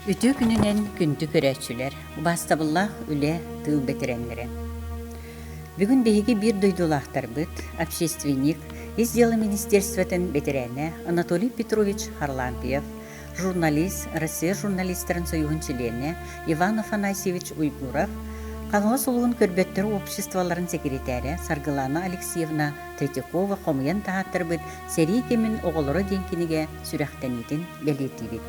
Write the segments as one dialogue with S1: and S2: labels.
S1: Үтүө күнүнэн күндү көрөөччүлэр, убаастабыллаах үлэ тыыл бэтэрээннэрэ. Бүгүн биһиги биир дойдулаахтарбыт, общественник, ис дьыала министерствотын бэтэрээнэ Анатолий Петрович Харлампьев журналист, Россия журналистарын союһун чилиэнэ Иван Афанасьевич Уйгуров, Хаҥалас улууһун көрбөттөр обществоларын сэкиритээрэ Саргылаана Алексеевна Третьякова хомуйан таһааттарбыт сэрии кэмин оҕолоро диэн кинигэ сүрэхтэниитин бэлиэтиибит.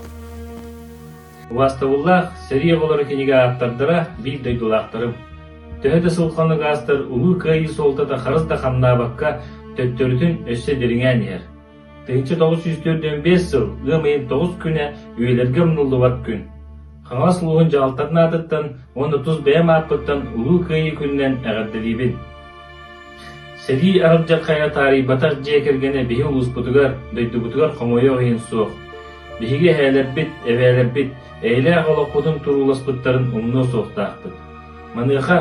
S1: Убастабыллаах сэрии оҕолоро кинигэ ааптардара биир дойдулаахтарым. Төһө да сылханы гаастар улуу кыайыы суолтата харыс да хамнаабакка, төттөрүтүн өссө дириҥээн иһэр. Тыһыынча тоҕус сүүс төрдүөн сыл ыам ыйын тоҕус күнэ үйэлэргэ умнуллубат күн. Хаҥалас улууһун дьаһалтатын аатыттан уонна тус бэйэм ааппыттан Улуу Кыайыы күнүнэн эҕэрдэлиибин. Сэрии аралдьаххайа таарыйбатах дьиэ кэргэнэ биһи улууспутугар, дойдубутугар хомойуох иһин суох. Биһиги эһээлэрбит, эбээлэрбит, эйэлээх олохпутун турууласпыттарын умнуо суохтаахпыт. Маныаха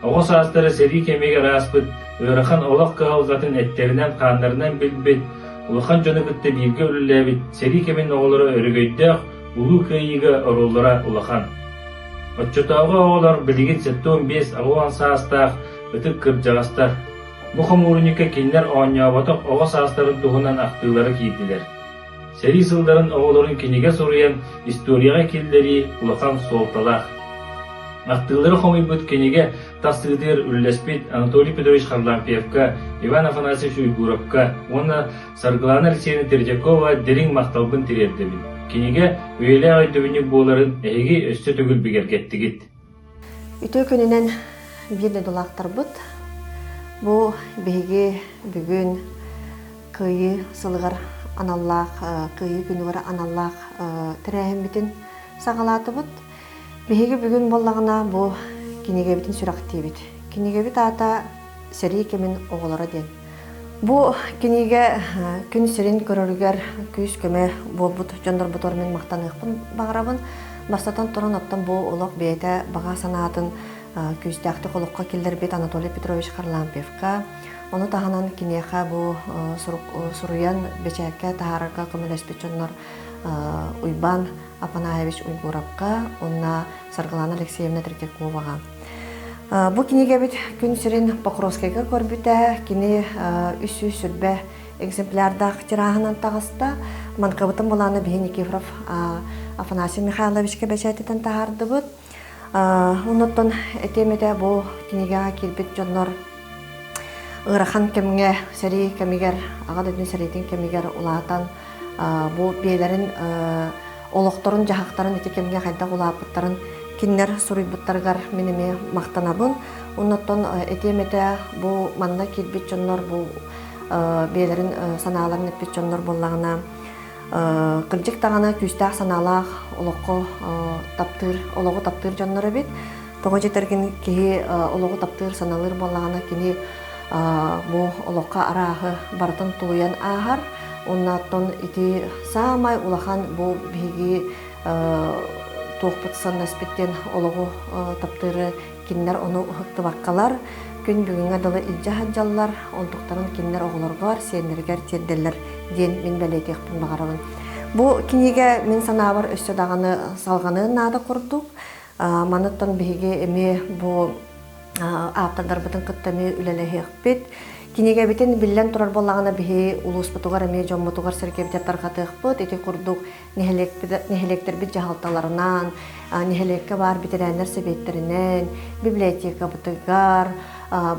S1: оҕо саастара сэрии кэмигэр ааспыт ыарахан олох кыһалҕатын эттэринэн-хааннарынан билбит, улахан дьону кытта бииргэ үлэлээбит сэрии кэмин оҕолоро өрөгөйдөөх Улуу Кыайыыга оруоллара улахан. Оччотооҕу оҕолор билигин сэттэ уон биэс аҕа уон саастаах ытык кырдьаҕастар бу хомуурунньукка кинилэр оонньооботох оҕо саастарын туһунан ахтыылара киирдилэр. Сэрии сылларын оҕолорун кинигэ суруйан историяҕа киллэрии улахан суолталаах. Ахтыылары хомуйбут кинигэ тахсыытыгар үллэспит Анатолий Петрович Харлампьевка, Иван Афанасьевич Уйгуровка уонна Саргылана Алексеевна Третьякова дириҥ махталбын тириэрдэбин. Кинигэ үйэлээх өйдөбүнньүк буоларын эһиги өссө төгүл бигэргэттигит. Үтүө күнүнэн биир дойдулаахтарбыт бу биһиги бүгүн Кыайыы сылыгар аналлаах Кыайыы күнүгэр аналлаах тэрээһиммитин саҕалаатыбыт. Биһиги бүгүн буоллаҕына бу кинигэбитин сүрэхтиибит. Кинигэбит аата сэрии кэмин оҕолоро диэн. Бу кинигэ күн сирин көрөрүгэр күүс-көмө буолбут дьоннорбутугар мин махтаныахпын баҕарабын. Бастатан туран, оттон бу олох бэйэтэ баҕа санаатын күүстээхтик олоххо киллэрбит Анатолий Петрович Харлампьевка, ону таһынан киниэхэ бу суруйан бэчээккэ таһаарарга көмөлөспүт дьоннор Уйбаан Апанаевич Уйгуровка уонна Саргылана Алексеевна Третьяковаҕа Бу кинигэбит күн сирин Покровскайга көрбүтэ. Кини үс сүүс сүрбэ экземплярдаах тираһынан таҕыста. Манкабытын булааны биһи Никифоров Афанасий Михайловичка бэчээтитэн таһаардыбыт. Онуттан этиэмэтэ бу кинигэҕэ киирбит дьоннор ыарахан кэмҥэ, сэрии кэмигэр, аҕа дойдуну сэриитин кэмигэр улаатан Бу биэлэрин олохторун-дьаһахтарын ити кэмҥэ хайдах улааппыттарын кинилэр суруйбуттарыгар мин эмиэ махтанабын. Оннуттан этиэм бу манна киирбит дьоннор бу биэлэрин санааларын эппит дьоннор буоллаҕына кырдьык даҕаны күүстээх санаалаах олоххо таптыыр олоҕу таптыыр дьоннор эбит Тоҕо дьэтэргин киһи олоҕу таптыыр, саналыыр буоллаҕына, кини бу олохха арааһы барытын тулуйан ааһар. Оннооттон ити саамай улахан бу биһиги туохпут саннаспыт диэн олоҕу таптыыры кинилэр ону тыбаккалар күн бүгүҥҥэ дылы илдьэ сылдьаллар онтуктарын кинилэр оҕолоргор сиэннэригэр тиэрдэллэр диэн мин бэлиэтиэхпин баҕарабын бу кинигэ мин санаабар өссө даҕаны салҕаныан наада курдук Маныттан биһиги эмиэ бу ааптардарбытын кытта эмиэ үлэлэһиэхпит. Кинигэбитин биллэн турар буоллаҕына биһи улууспутугар эмиэ дьоммутугар сэргэбитэ тарҕатыахпыт. Ити курдук нэһилиэктэрбит дьаһалталарынан, нэһилиэккэ баар бэтэрээннэр сэбиэттэринэн, библиотекабытыгар,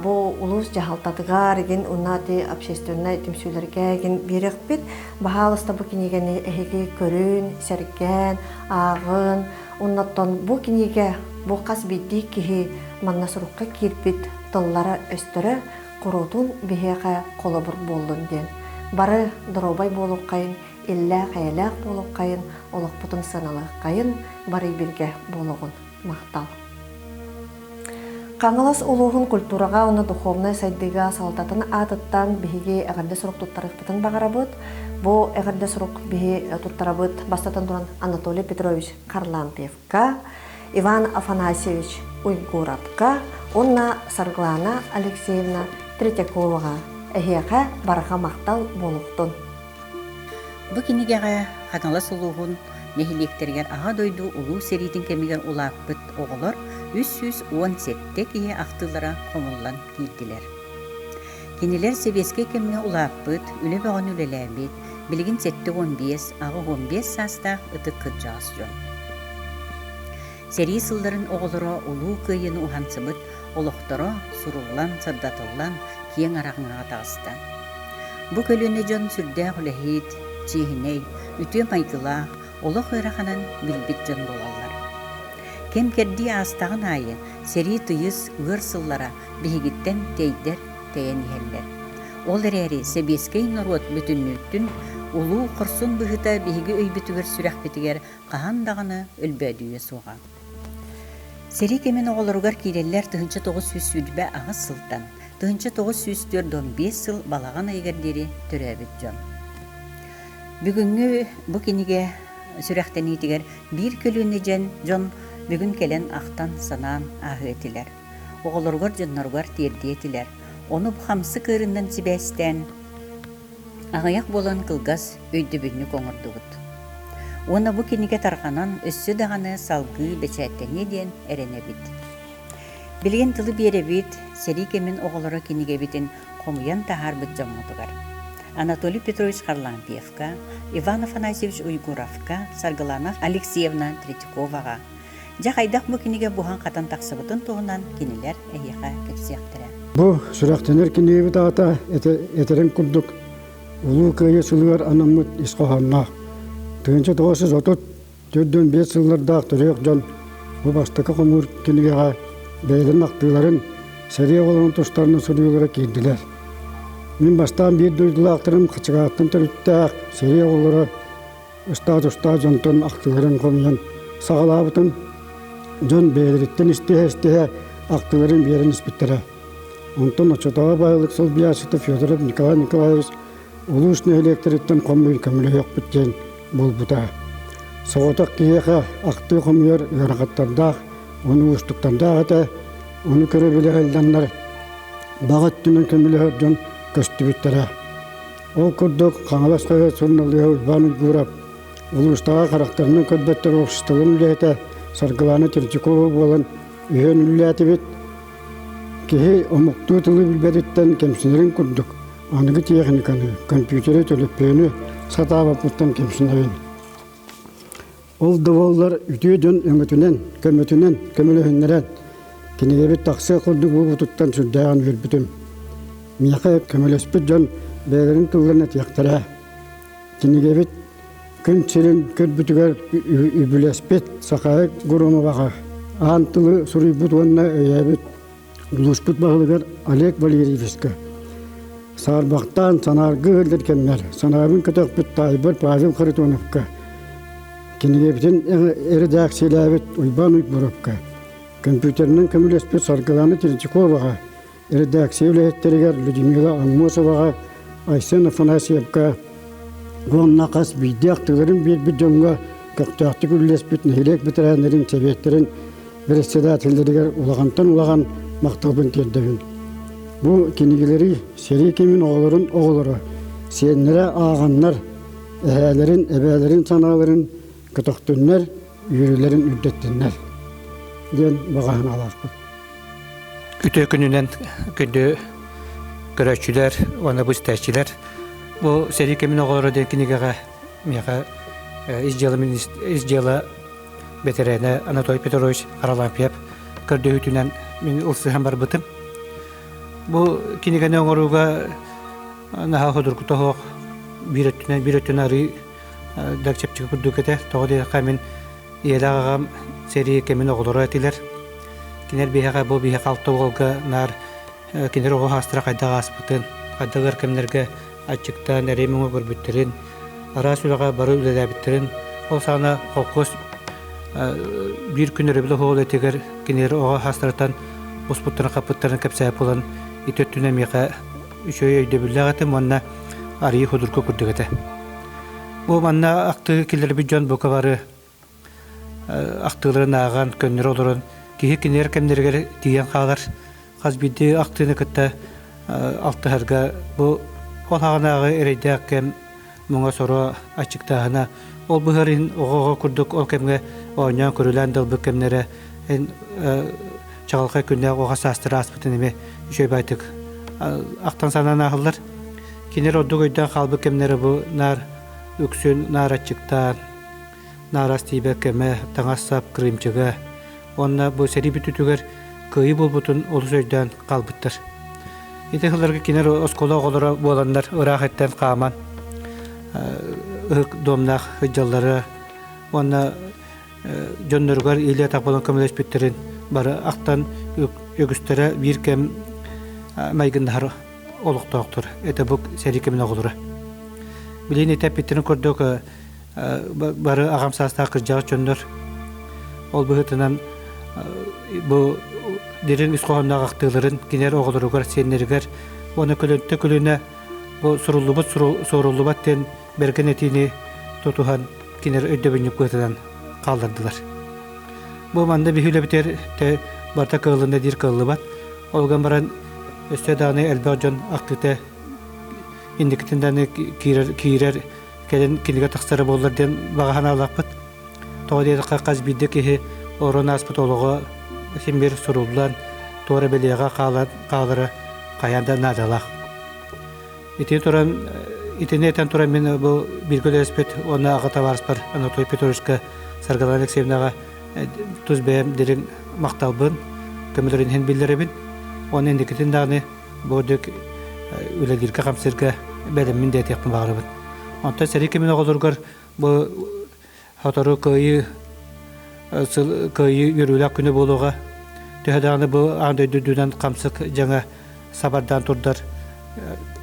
S1: бу улуус дьаһалтатыгар игин уна ати общественнай түмсүүлэргэ игин биэриэхпит. Баһаалыста бу кинигэни эһиги көрүн, сэргэн, ааҕын, Оннуттан бу кинигэ бу хас биирдии киһи манна сурукка киирбит тыллара-өстөрө куруутун биһиэхэ холобур буоллун диэн. Бары доруобай буолуоххайын, иллээх-эйэлээх буолуоххайын, олохпутун сыаналыаххайын, барый биргэ буолуоҕун махтал. Хаҥалас улууһун культураҕа уонна духовнай сайдыыга салалтатын аатыттан биһиги эҕэрдэ сурук туттарыахпытын баҕарабыт. Бу эҕэрдэ сурук биһи туттарабыт бастатан туран Анатолий Петрович Харлампьевка, Иван Афанасьевич Уйгуровка уонна Сарглана Алексеевна Третьяковаҕа эһиэхэ барҕа махтал буолуохтун. Бу кинигэҕэ Ханалас улууһун нэһилиэктэригэр Аҕа дойду Улуу сэриитин кэмигэр улааппыт оҕолор үс сүүс уон сэттэ киһи ахтыылара хомуллан киирдилэр. Кинилэр сэбиэскэй кэмҥэ улааппыт, үлэ бөҕөнү үлэлээбит, билигин сэттэ уон биэс, аҕа уон биэс саастаах ытык кырдьаҕас дьон. Сэрии сылларын оҕолоро Улуу Кыайыыны уһансыбыт олохторо суруллан-сырдатыллан киэҥ араҥаҕа таҕыста. Бу көлүөнэ дьон сүрдээх үлэһит, чиэһинэй, үтүө майгылаах, олох ыараханын билбит дьон буолаллар. Кэм-кэрдии аастаҕын аайы сэрии тыйыс ыар сыллара биһигиттэн тэйдэр тэйэн иһэллэр. Ол эрээри сэбиэскэй норуот бүтүннүүттүн улуу хорсун быһыыта биһиги өйбүтүгэр-сүрэхпитигэр хаһан даҕаны өлбөөдүйүө суоҕа. Сэрии кэмин оҕолоругар киирэллэр тыһыынча тоҕус сүүс сүүрбэ аҕыс сылтан тыһыынча тоҕус сүүс түөрт уон биэс сыл балаҕан ыйыгар диэри төрөөбүт дьон. Бүгүҥҥү бу кинигэ сүрэхтэниитигэр биир көлүөнэ дьэн дьон бүгүн кэлэн ахтан санаан ааһыы этилэр. Оҕолоругар дьонноругар тиэрдии этилэр. Ону бу хамсык ыырыннан сибээстээн Аҕыйах буолан кылгас өйдөбүнньүк оҥордубут. Уонна бу кинигэ тарҕанан өссө даҕаны салгыы бэчээттэниэ диэн эрэнэбит. Билигин тылы биэрэбит, сэрии кэмин оҕолоро кинигэбитин хомуйан таһаарбыт дьоммутугар. Анатолий Петрович Харлампьевка, Иван Афанасьевич Уйгуровка, Саргылана Алексеевна Третьяковаҕа, Дьэ хайдах бу кинигэ буһан-хатан тахсыбытын туһунан кинилэр эһиэхэ кэпсиэхтэрэ. Бу сүрэхтэнэр кинигэбит аата этэрин курдук Улуу Кыайыы сылыгар анаммыт ис хоһоонноох. Тыынча тоҕус жүз отут төрдөн биэс сыллардаах төрүөх дьон бу бастакы хомуур кинигэҕэ бэйэлэрин ахтыыларын, сэрии оҕолорун тустарынан суруйуулара киирдилэр. Мин бастаан биир дойдулаахтарым Хачыгааттан төрүттээх сэрии оҕолоро ыстаадыстаах дьонтон актыыларын хомуйан саҕалаабытым. Дьон бэйэлэриттэн истиһэ-истиһэ актыыларын биэрэн испиттэрэ. Онтон оччотооҕу баһылык солбуйааччыта Федоров Николай Николаевич улуус нэһилиэктэриттэн хомуйар көмөлөһүөхпүт диэн буолбута. Соҕотох киһиэхэ актыы хомуйар ыарахаттардаах, ону уустуктардаах этэ. Ону көрө-билэ айылланнар баҕа өттүнэн көмөлөһөр дьон көстүбүттэрэ. Ол курдук Хаҥалас норуот суруналыыһа Уйбаан Уйгуров улуустааҕы харахтарынан көрбөттөр обществоларын үлэһитэ Саргылаана Темчукова буолан үһүөн үлэлээтибит. Киһи омуктуу тылы билбэтиттэн кэмсинэрин курдук аныгы тиэхиниканы, компьютеры, төлөпүөнү сатаабаппыттан кэмсинэбин. Ол да буоллар үтүө дьон өҥөтүнэн, көмөтүнэн көмөлөһүннэрэн, кинигэбит тахсыа курдук буолбутуттан сүрдээҕин үөрбүтүм. Миэхэ көмөлөспүт дьон бэйэлэрин тылларын этиэхтэрэ. Кинигэбит күн сирин көрбүтүгэр үбүлэспит Сахаe Гурумоваҕа аан тылы суруйбут уонна өйөөбүт Улууспут баһылыгар Олег Валерьевичка саарбахтаан санаарга ыһыллар кэмнэр санаабын көтөхпүт таайбар Павел Харитоновка, кинигэбитин эрэдээксийэлээбит Уйбаан Уйгуровка, компьютерынан көмөлөспүт Саргылана Третьяковаҕа, эрэдээксийэ үлэһиттэригэр Людмила Аммосоваҕа, Айсен Афанасьевка уонна хас биирдээх тыгырын биэрбит дьоҥҥо көхтөөхтүк үллэспит нэһилиэк бэтэрээннэрин сэбиэттэрин председателлэригэр улахантан улахан махталбын тиэрдэбин. Бу кинигэлэри сэрии кэмин оҕолорун оҕолоро, сиэннэрэ ааҕаннар, эһээлэрин, эбээлэрин санааларын көтөхтүннэр, үөрүүлэрин үрдэттиннэр диэн баҕаһын алаахпыт. Үтүө күнүнэн күндү көрөөччүлэр уонна бу истээччилэр бу сэрии кэмин оҕолоро диэн кинигэҕэ миэхэ ис дьыала ис дьыала бэтэрээнэ Анатолий Петрович Аралампьев көрдөһүүтүнэн мин ылсыһан барбытым. Бу кинигэни оҥорууга наһаа судургута суох биир өттүнэн биир өттүнэн арыы Дакчапчыга курдук этэ. Тоҕо диэтэххэ, мин ийэлээх аҕам сэрии кэмин оҕолоро этилэр. Кинилэр биһиэхэ бу биһиэхэ алта уолга наар кинилэр оҕо саастара хайдах ааспытын, хайдах өр кэмнэргэ аччыктаан эрий-муҥа көрбүттэрин, араас үлэҕэ бары үлэлээбиттэрин, ол саҕана холкуос биир күн өрөбүл оһуол этигэр кинилэр оҕо саастарыттан успуттарын-хаппыттарын кэпсээп булан ити өттүнэн миэхэ үчүгэй өйдөбүллээх этим уонна арыйыы худурка курдук этэ. Бу манна ахтыы киллэрбит дьон бука бары ахтыыларын ааҕан, көннөрө олорон киһи кинилэр кэмнэригэр тиийэн хаалар хас биирдии ахтыыны кытта алтыһарга бу ол хаҕынааҕы эрэйдээх кэм муҥа соро аччыктааһына ол быһарын оҕоҕо курдук ол кэмҥэ оонньоон көрүлээн далбыт кэмнэрэ эн чаҕылхай күннээх оҕо саастара ааспытын эмиэ үчүгэйдик ахтан санаан ааһыллар кинилэр ордук өйдөөн хаалбыт кэмнэрэ бу наар үксүн наар аччыктаан наарас тиибэ көмө, таҥас-сап кырыымчыга уонна бу сэрии бүтүүтүгэр кыайыы буолбутун олус өйдөөн хаалбыттар. Ити сылларга кинилэр оскуола оҕолоро буоланнар ыраах эттэн хааман ытык домнаах сылдьаллара уонна дьонноругар иилэ-атах буолан көмөлөспүттэрин бары ахтан үгүстэрэ биир кэм майгыннаһар олохтоохтор. Этэ бу сэрии кэмин оҕолоро. Билин ити эппиттерин көрдөк бары аҕам саастаах кырдьаҕас дьоннор ол быһыытынан бу дириҥ ис хоһоонноох ахтыыларын кинилэр оҕолоругар сиэннэригэр уонна көлөнтө көлүнэ бу суруллубут суоруллубат диэн бэргэн этиини тутуһан кинилэр өйдөбүнньүк быһыытынан хааллардылар бу манна биһиилэбитигэр барыта кыаллынна диир кыаллыбат ол гынан баран өссө даҕаны элбэх дьон ахтыыта инникитин даҕаны киирэр киирэр кэлин кинигэ тахсара буоллар диэн баҕа санаалаахпыт. Тоҕо диэтэххэ, хас биирдэ киһи орон ааспыт олоҕо симбир суруллан, туора бэлиэҕэ хаалара хайаан да наадалаах. Итини туран итини этэн туран мин бу бииргэ үлэлэспит уонна аҕа табаарыспар Анатолий Петровичка Саргылана Алексеевнаҕа тус бэйэм дириҥ махталбын, көмөлөрүн иһин биллэрэбин. Уонна инникитин даҕаны бу дьик үлэлииргэ хамсыырга бэдэммин диэтиэхпин баҕарабын онтон сэрии кэмин оҕолоругар бу сотору кыайыы кыайыы үөрүүлээх күнэ буолуоҕа төһө даҕаны бу аан дойду үрдүнэн хамсык дьаҥа сабардаан турдар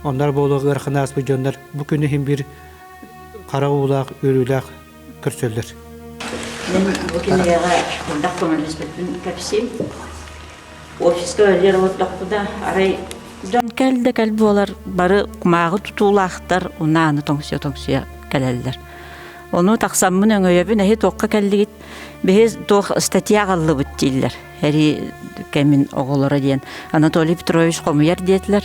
S1: оннор буолуоҕа ыараханы ааспыт дьоннор бу күнү иһин биир хара уулаах үөрүүлээх көрсөллөр. Бу кинигэҕэ мындах көмөлөспүппүн кэпсиим. Офиска өлөр олордохпута арай кэл да кэл буолар бары кумааҕы тутуулаахтар унааны тоҥсуйа-тоҥсуйа кэлэллэр. Ону тахсаммын өҥөйөбүн эһи туохха кэллигит биһи туох статья аҕаллыбыт дииллэр эрии кэмин оҕолоро диэн Анатолий Петрович хомуйар диэтилэр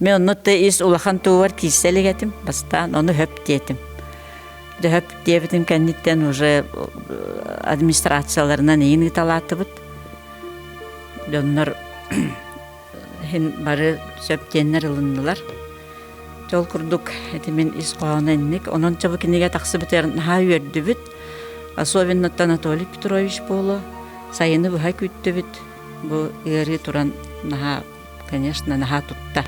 S1: Мен онно да ис улахан туубар киирсэ илик этим, бастаан ону хөп диэтим. Дэ хөп диэбитим кэнниттэн уже администрацияларынан иин ыыталаатыбыт. Доннор хин бары сөп диэннэр ылыннылар. Жол курдук этимин ис хоһооно инник. Онон чабы киниге тахсыбытыр наха үөрдүбүт. Особенноттан Анатолий Петрович буолу, сайыны быһа күттүбүт. Бу ыарыы туран наха конечно, наһаа тутта.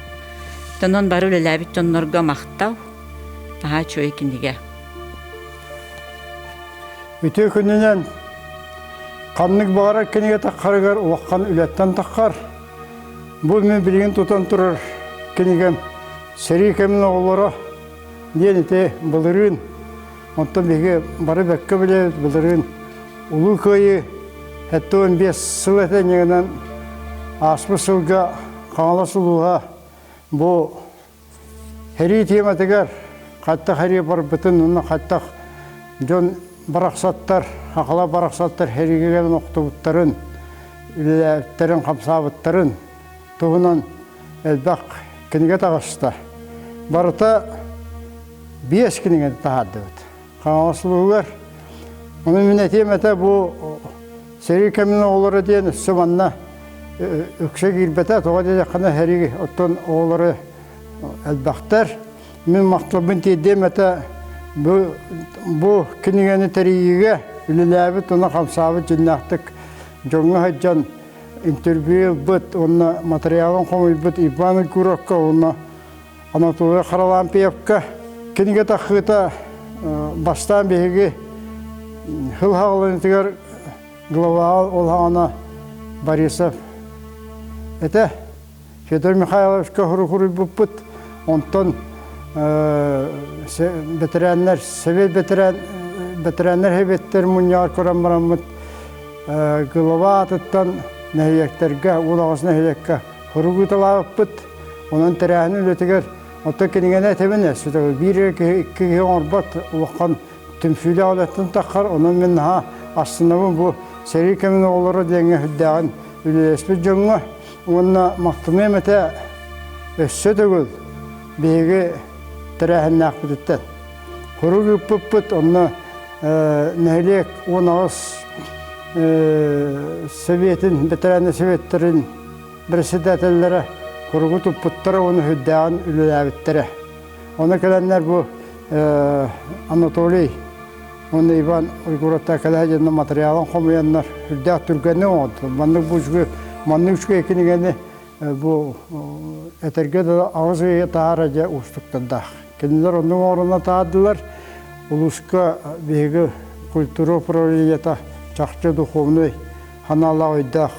S1: Тонон бары үлэлээбит дьоннорго махтал. Наһаа үчүгэй кинигэ. Үтүө күнүнэн ханнык баҕарар кинигэ таххарыгар улахан үлэттэн таххар бу мин билигин тутан турар кинигэм сэрии кэмин оҕолоро диэн ити былырыын Оттон биһиги бары бэккэ билэ былырыын Улуу Кыайыы сэттэ уон биэс сыл этэнньигинэн ааспыт сылга Хаҥалас улууһа бу сэрии тиэмэтигэр хаттах эрийэ барбытын уонна хаттах дьон барахсаттар, хахала барахсаттар сэригилэн охтубуттарын, үлэлээбиттэрин, хамсаабыттарын туһунан элбэх кинигэ таҕыста. Барыта биэс кинигэни таһаардыбыт. Хаҥаластыбыгар Ону мин этиэм этэ бу сэрии кэмин оҕолоро диэн өссө манна үксэ киирбэтэ тоҕо диэтэххинэ хэриг оттон оҕолоро элбэхтэр мин махталбын тиэрдиэм этэ бу бу кинигэни тэрийиигэ үлэлээбит уна хамсаабыт дьиннээхтик дьоҥҥо сылдьан интервьюбут уонна материалын хомуйбут Иван Егоровка уонна Анатолий Харлампьевка кинигэ тахыыта бастаан биһиги хыл хаалынытыгар глава ол хаана Борисов этэ Федор Михайловичка хоругуруйбуппут, онтон бэтэрээннэр, сэбиэт бэтэрээн, бэтэрээннэр һэбиэттэр мунньаҕар көрөн бараммыт глава атыттан нэһилиэктэргэ, Уулаҕас нэһилиэккэ хоругуталаабыппыт. Онон тэрээһин үлэтигэр оттон кинигэни этэбинэ, биир киһи киһи оҥорбот улахан түмсүүлээх үлэттэн таххар, онон мин наһаа астынабын бу сэрии кэмин оҕолоро диэҥҥэ үрдээҕин үлэлэспит дьоҥҥо. Уонна махтаныам этэ өссө төгүл биһиги тэрээһиннээхпититтэн. Курук ыыппыппыт онно нэһилиэк уон аҕыс сэбиэтин бэтэрээнэ сэбиэттэрин бэрэссэдээтэллэрэ куругу туппуттара уонна үрдээҕин үлэлээбиттэрэ. Ону кэлэннэр бу Анатолий Уонна Иван Уйгуровтар Калядина материалын хомуйаннар үрдээх түргэни оҥордулар. Маннык бу үчүгэй маннык үчүгэй кинигэни бу этэргэ да аҕыс ыйы таһаара дьэ уустуктардаах. Кинилэр оннук оҥорона таардылар. Улууска биһиги культура управлениета чахчы духовнай ханаалаах өйдөөх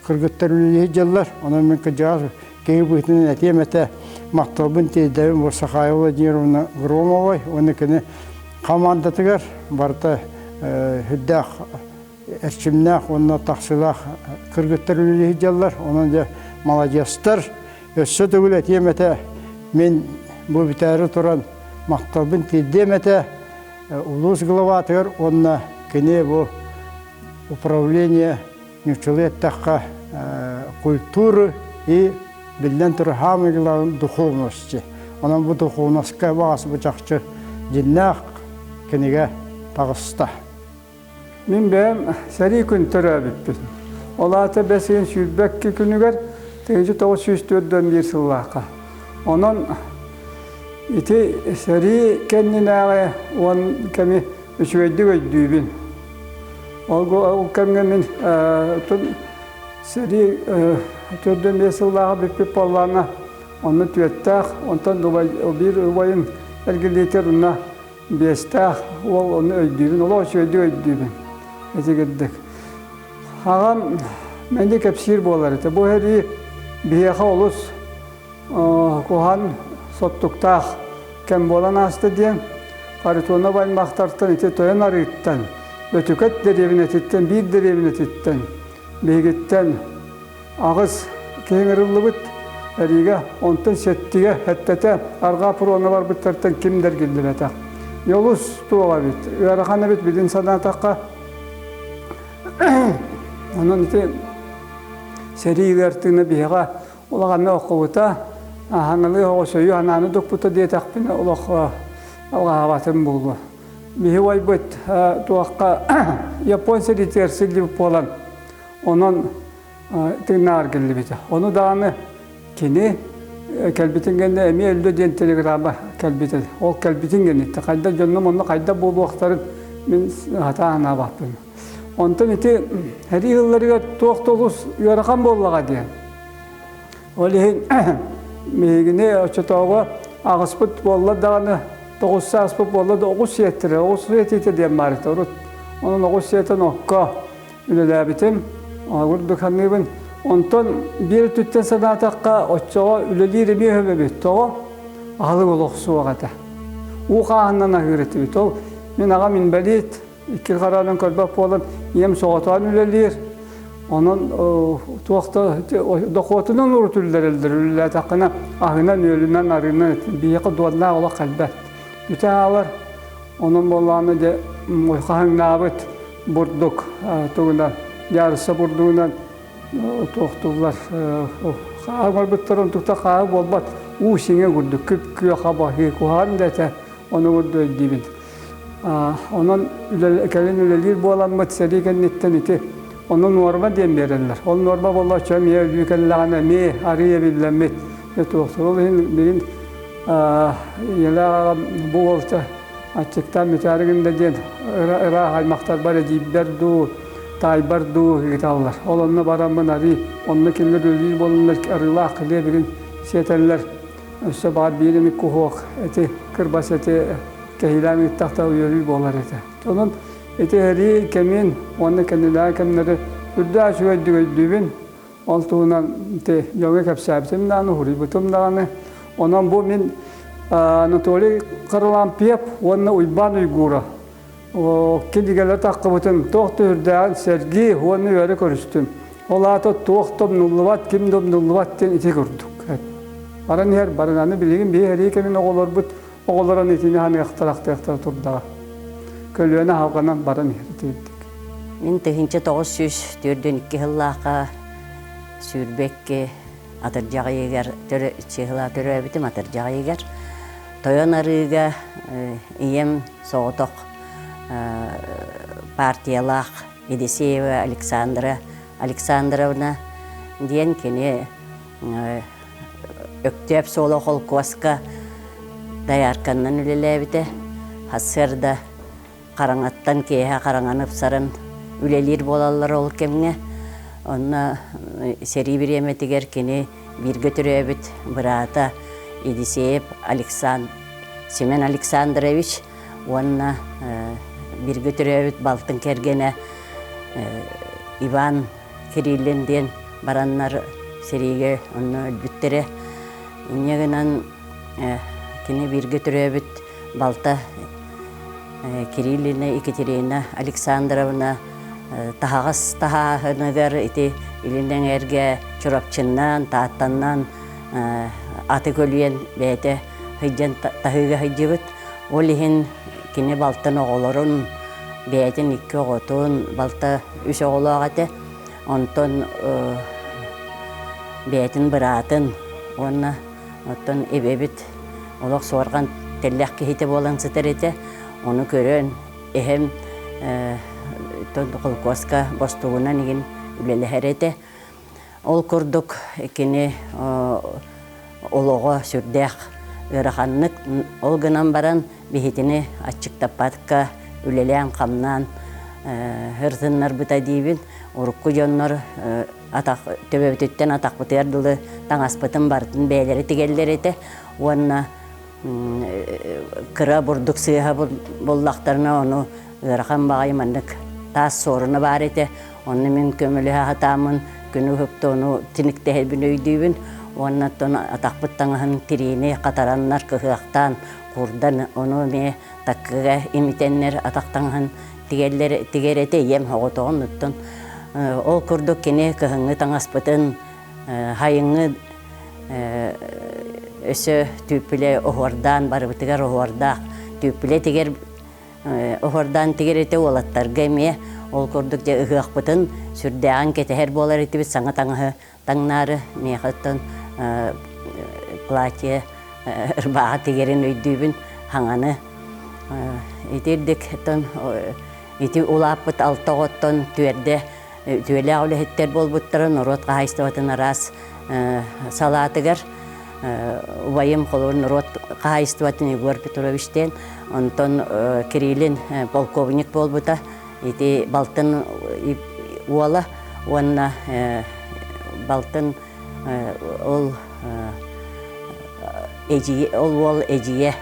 S1: кыргыттар үлэлиир дьыллар. Онон мин кыдьаҕас Киһи быһыытынан этиэм этэ, махталбын тиэрдэбин Бурсахаева Владимировна Громовой уонна кини хамаандатыгар барыта үрдээх эрчимнээх уонна тахсыылаах кыргыттар үлэлии сылдьаллар. Онон дьэ маладьыастар. Өссө төгүл этиэм этэ, мин бу бүтээри туран махталбын тиэрдиэм этэ улуус главатыгар уонна кини бу управление ньуччулуу эттэххэ, культура и биллэн турар хаамыылаах духовности. Онон бу духовноска баҕас бу чахчы дьиннээх кинигэ таҕыста. Мин бэйэм сэрии күн төрөөбүппүн. Ол аата бэс ыйын сүүрбэкки күнүгэр 1904-1 сыллаахха. Онон ити сэрии кэннинээҕи уон кэми үчүгэйдик өйдүүбүн. Ол кэмҥэ мин сэрии төрдө эмиэ сыллааҕы бүппүт буоллаҕына, онно түөртээх, онтон биир убайым эргилиэтэр уонна биэстээх уол ону өйдүүбүн, олох үчүгэйдик өйдүүбүн итигирдик. Аҕам мэндэ кэпсиир буолар этэ, бу сэрии биһиэхэ олус куһан соттуктаах кэм буолан ааста диэн Харитонов аймахтартан ити тойон арыыттан, Бөтүкэт дэриэбинэтиттэн, биир дэриэбинэтиттэн, биһигиттэн аҕыс киһи ыҥырыллыбыт. Эриигэ онтон сэттигэ, сэттэтэ арҕаа пуруона барбыттартан ким дэргиллибэтэх. Йолус туох эбит, ыарахан эбит билин санаатахха. Онон ити сэрии ыартыына биһиэхэ Улаҕаны оқубута, аһаҥалыы оҕосойу анааны дукпута диэтэхпинэ олох алҕаһаабатын буолуо. Биһи уойбут туохха Япон сиритигэр силлибит буолан, онон тыыннааҕар кэллибитэ. Ону даҕаны кини кэлбитин кэннэ эмиэ өллө диэн телеграмма кэлбитэ. Ол кэлбитин кэнниттэ хайдах дьоннум онно хайдах буолуохтарын мин сатаа санаабаппын. Онтон ити һэрии ыылларыгар туох да олус ыарахан буоллаҕа диэн. Ол иһин биһигини оччотооҕу аҕыспыт буолла даҕаны, тоҕус сааспыт буолла да оҕус сиэттирэ, оҕус сиэтиитэ диэн баарыта урут. Онон оҕус сиэтэн окко үлэлээбитим, ордук саныыбын. Онтон биир өттүттэн санаатахха, оччоҕо үлэлиир эмиэ өһөм эбит, тоҕо? Аһылык олох суох этэ. Уу хааһыннан аһыыр этибит. Ол мин аҕам инбэлиит, икки хараанан көрбөх буолан ийэм соҕотоон үлэлиир. Онон туох да дохуотунан урутулларыллар үлэлээтэххинэ аһынан, үөлүнэн, арыынан биһиэхэ дуоннаах олох кэлбэт. Бүтэ хаалар. Онон буоллааны дьэ хаһыҥнаабыт бурдук тугунан, яруса бурдугунан туохтуллар хаамарбыттар онтукта хаа буолбат уу сиҥэ курдук күп күө хаба куһаан да этэ ону курдук өйдүүбүн Онон кэлин үлэлиир буоламмыт сэрии кэнниттэн ити ону нуорма диэн биэрэллэр. Ол нуорма боллооччу эмиэ өлүү кэллэҕинэ эмиэ арыйа эбиллэммит. Туохтуруол иһин билин Елаҕа бу уолта аччыктаан мүчаары гында диэн ыраах аймахтарбар эдьиийбэр дуу, таайбар дуу ыыталлар. Ол онно бараммын арыы, онно кинилэр өлүү буоланнар арыылаах кылыа билин сиэтэллэр. өссө баар биир эмит куһуок эти кырбас эти кэһиилээн ыыттах да уйалыы буолар этэ. Онон ити эрии кэмин уонна кэннилээх кэмнэри үрдээх үчүгэйдүгөйдүүбүн. Ол туһунан ити дьоҥҥо кэпсээбитим даҕаны, уһуруйбутум даҕаны. Онон бу мин Анатолий Харлампьев уонна Уйбаан Уйгура кинигэлэр таххыбытын туох түһүрдээн сэргии уонна үөрэ көрүстүм. Ол аата туох да умнуллубат, ким да умнуллубат диэн ити курдук. Баран иһэр баран аны билигин биһи Эрикэнин оҕолорбут оҕолорун итини аныахтарахтыахтара турдаҕа. Көлүөнэ халҕанан баран иһэр итирдик. Мин тыһыынча тоҕус сүүс төрдүн икки сыллаахха сүүрбэкки атырдьаҕыйыгар сыһыла төрөөбүтүм атырдьаҕыйыгар тойон арыыга ийэм соҕотох партиялаах Едисеева Александра Александровна диэн кини Өктөөп суола холкуоска доярканнан үлэлээбитэ ХСР-да Хараҥаттан киэһэ хараҥаны ыпсаран үлэлиир буолаллар ол кэмҥэ онно сэрии бириэмэтигэр кини бииргэ төрөөбүт быраата Едисеев Александр, Семен Александрович уонна бииргэ төрөөбүт балтын кэргэнэ Иван Кириллин диэн бараннар сэриигэ онно өлбүттэрэ. Инньэ гынан кини бииргэ төрөөбүт балта Кириллина, Екатерина Александровна таһаҕас таһааһыныгар ити илин эҥэргэ Чурапчыннаан, Тааттаннаан аты көлүйэн бэйэтэ сылдьан таһыыга сылдьыбыт. Ол иһин кини балтын оҕолорун, бэйэтин икки оҕотун, балта үс оҕолоох этэ. Онтон бэйэтин быраатын уонна Оттон эбэбит олох суорҕан тэллэх киһитэ буолан сытар этэ. Ону көрөн эһэм холкуоска бостугунан игин үлэлэһэр этэ. Ол курдук кини олоҕо сүрдээх ыараханнык. Ол гынан баран биһитини аччыктаппакка үлэлээн-хамнаан һырсыннарбыта диибин. Урукку дьоннор атах төбөбүтүттэн атахпытыгар дылы таҥаспытын барытын бэйэлэрэ тигэллэр этэ уонна кыра бурдук сыыһа буллахтарына ону ыарахан баҕайы маннык таас суоруна баар этэ онно мин көмөлөһө сатааммын күнү ыһыкта ону тиниктэһэрбин өйдүүбүн уонна оттон атахпыт таҥаһын тириини хатараннар кыһыахтаан курдан ону эмиэ таккыга имитэннэр атах таҥаһын тигэллэр тигэрэтэ ийэм оҕотоҕун оттон ол курдук кини кыһыҥҥы таҥаспытын хайыҥҥы өсө түүппүлэ оһуордаан барыбытыгар оһуордаах түүппүлэ тигэр оһуордаан тигэрэтэ уолаттарга эмиэ ол курдук дьэ ыһыахпытын сүрдээҕин кэтэһэр буолар этибит саҥа таҥаһы таҥнаары миэхэ оттон платье ырбааҕа тигэрин өйдүүбүн хаҥаны итирдик оттон ити улааппыт алта оҕоттон түөрдэ түөлээх үлэһиттэр буолбуттара норуот хаһаайыстыбатын араас салаатыгар убайым холобур норуот хаһаайыстыбатын Егор Петровичтеен онтон Кириллин полковник буолбута Ити балтын уола уонна балтын ол эдьиийэ ол уол эдьиийэ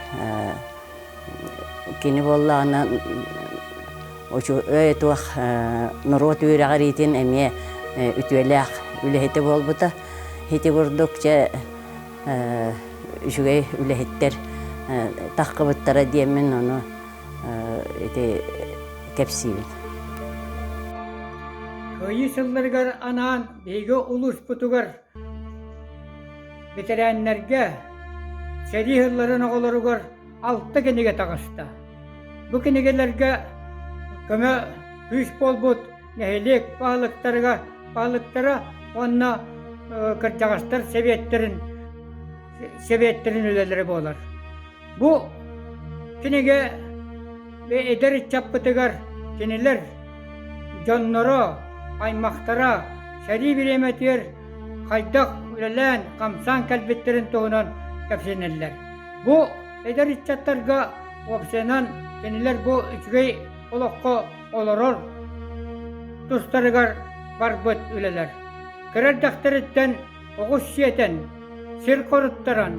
S1: кини буоллаҕына үчүгэй туох норуот үөрэҕэр иитин эмиэ үтүөлээх үлэһитэ буолбута. Ити курдук чэ үчүгэй үлэһиттэр таххыбыттара диэммин ону ити кэпсиибит. Кыайыы сылларыгар анаан биһиги улууспутугар ветерааннарга сэрии сылларын оҕолоругар алта кинигэ таҕыста. Бу кинигэлэргэ көмө күүс буолбут нэһилиэк баһылыктарга баһылыктара уонна кырдьаҕастар сэбиэттэрин сэбиэттэрин үлэлэрэ буолар. Бу кинигэ эдэр ыччаппытыгар кинилэр дьонноро, аймахтара сэрии бириэмэтигэр хайдах үлэлээн-хамсаан кэлбиттэрин туһунан кэпсэнэллэр. Бу эдэр ыччаттарга уопсайынан кинилэр бу үчүгэй олоххо олорор тустарыгар барбыт үлэлэр. Кыра эрдэхтэриттэн оҕус сиэтэн, сир хоруттаран,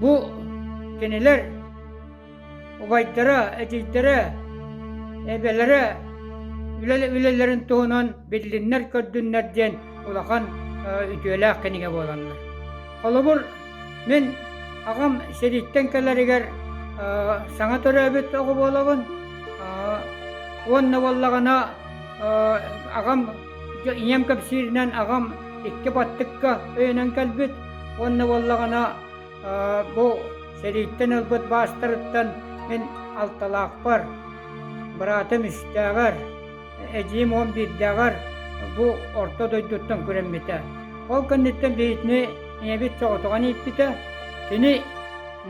S1: бу кинилэр убайдара, эдьиийдэрэ, эбэлэрэ үлэлэрин туһунан биллиннэр-көрдүннэр диэн улахан үтүөлээх кинигэ буоланнар. Холобур, мин аҕам сириттэн кэлэригэр саҥа төрөөбүт оҕо буолабын уонна буоллаҕына аҕам Дьэ ийэм кэпсииринэн аҕам икки баттыкка өйөнөн кэлбит уонна буоллаҕына бу сэрииттэн ылбыт баастарыттан мин алталаахпар, быраатым үстээҕэр, эдьиим уон биирдээҕэр бу орто дойдуттан күрэммитэ. Ол кэнниттэн биһигини ийэбит соҕотоҕун ииппитэ. Кини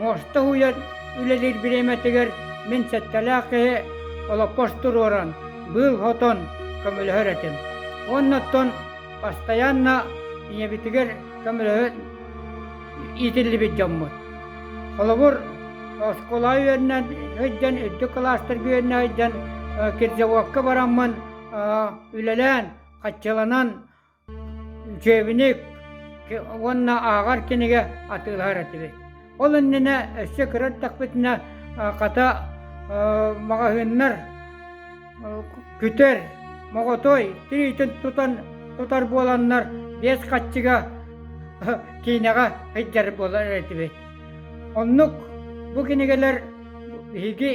S1: муоста уһуйан үлэлиир бириэмэтигэр мин сэттэлээх киһи олоппос туруоран быыл хотон көмөлөһөр этим. Уонна оттон бастайаанна ийэбитигэр көмөлөһө иитиллибит дьоммут. Холобур, оскуола үөннэн сылдьан, үрдүк кылаастар үөннэ сылдьан, кирзоводка бараммын үлэлээн, хаччыланан, Учебник уонна ааҕар кинигэ атыылаһар этибит. Ол иннинэ өссө кыра эрдэхпитинэ хата маҕаһыыннар күтэр, моҕотой тириитин тутан тутар буоланнар биэс хаччыга киинэҕэ сылдьар буолар этибит. Оннук бу кинигэлэр Биһиги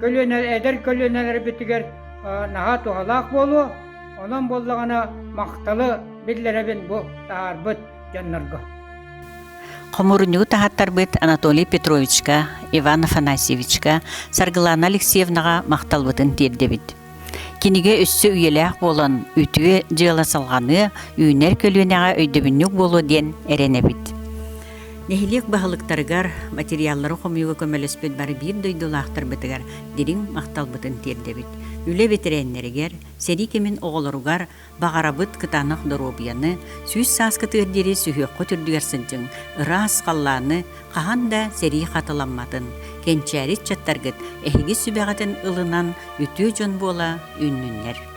S1: көлүөнэ, эдэр көлүөнэлэрбитигэр наһаа туһалаах буолуо, онон буоллаҕына махталы биллэрэбин бу таһаарбыт дьоннорго. Хомуурунньугу таһаттарбыт Анатолий Петровичка, Иван Афанасьевичка, Саргылаана Алексеевнаҕа махталбытын тиэрдэбит. Кинигэ өссө үйэлээх буолан, үтүө дьыала салҕаныа, үүнэр көлүөнэҕэ өйдөбүнньүк буолуо диэн эрэнэбит. Нэһилиэк баһылыктарыгар материаллары хомуйууга көмөлөспүт бары биир дойдулаахтарбытыгар дириҥ махталбытын тиэрдэбит. Үлэ бэтэрээннэригэр, сэрии кэмин оҕолоругар Баҕарабыт кытаанах доруобуйаны, сүүс саас кытыар диэри сүһүөххүт үрдүгэр сылдьыҥ, ыраас халлааны, хаһан да сэрии хатыламматын, кэнчээри ыччаттаргыт эһиги сүбэҕитин ылынан үтүө дьон буола үүннүннэр.